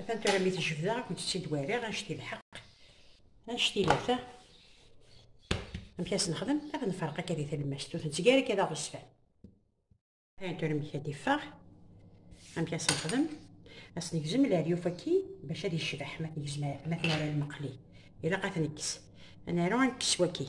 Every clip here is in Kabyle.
Atan tura mi tejbdeɣ ad kent-tt-id wariɣ anect lḥeq anect ilata amek as nexdem ad nferq akka di talemmast ur tettgari akka d aɣezfan ayen tura amek ad iffeɣ amek as nexdem as negzem leryuf aki bac ad yecbeḥ ma tnegzem ma tnara lmeqli ilaq ad nekkes anaru ad nekkes waki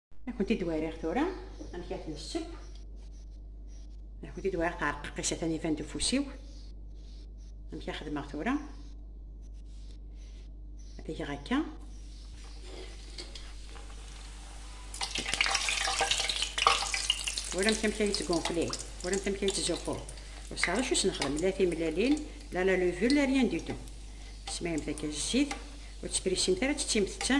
Ad kent-id wariɣ tura amek ad ten-sseb. Ad kent-id wariɣ tɛerqaqis atan iban-d ufus-iw. Amek ad xedmeɣ tura? Ad geɣ akka. Uramt amek ay yettgunfli, uramt amek ay yettzuxxu. Ur sɛiɣ acu s-nexdem, la timellalin, la la levure, la rien du tout. Tesmayem takka zzit, ur tesprisimt ara, tettimt ta.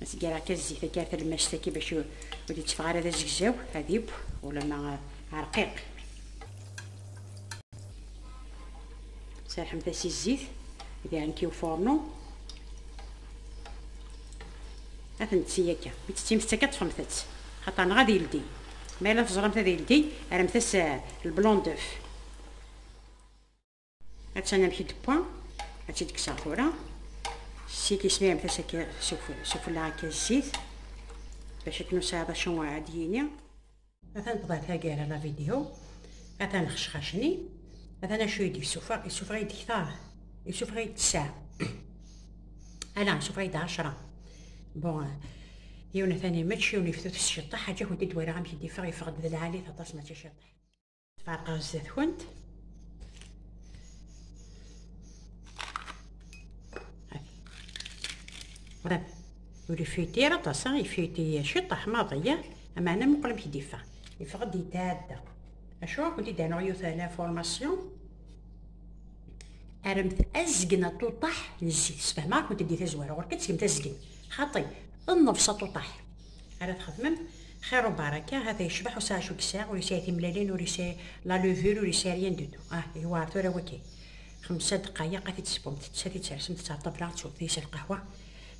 As gar akka zzit akka ar talmact akka bac ur d-itteffeɣ ara d azegzaw ad ibb ulama rqiq. Serḥemt-as i zzit d iɛenki ufurnu. Ad ten-tti akka. Mi tt-ttimt akka ṭṭfemt-tt. Xaṭer neɣ ad yeldi. Ma yella teẓramt ad yeldi, rremt-as lblondef. Attan amek d-wwa, ad tt-id-kkseɣ tura. Zzit yesmiramet-as akka sufella akka zzit bac akken ur sɛiḍ acu ad yini. Atan tebɣa taggara la vidéo, atan xecxacni, atan acu i d-yessufeɣ, yessufeɣ-iyi-d ktar, yessufeɣ-iyi-d tesɛa. Ala, yessufeɣ-iyi-d ɛecra. Bon, yiwen atan imečč, yiwen iftut s ceṭṭaḥ, aǧak ur d-id-walaɣ amek id-yeffeɣ, yeffeɣ-d d lɛalit aṭas mačči ciṭṭaḥ. Tfeṛqeɣ zdat-kent. Bref, ur ifuyt ara aṭas, ifuyt-iyi ciṭṭaḥ maḍi, amana muqel amek d-iffeɣ. Iffeɣ-d yetɛedda. Acu ad kent-id-anuɣ yiwet n l'information? Aremt azgen aṭuṭaḥ n zzit. Sfehmeɣ-kent-id di tazwara, ɣur-k ad tgemt azgen. Xaṭi, ḍneb s aṭuṭaḥ. ara txedmem xir u baraka hata yecbeḥ ur sɛic ur yesɛi ur yesɛi timlalin ur yesɛi la levure ur yesɛi rien du tout ah yewɛer tura wagi xemsa dqayeq ad t-id-tespumt ttess ad t-id-tersemt ttesɛa ṭṭabla ad teswemt deg-s lqahwa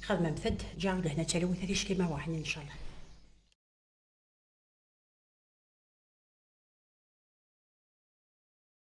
xedmemt-d ǧa lehna d talwit a ticki ma weɛɛen incallah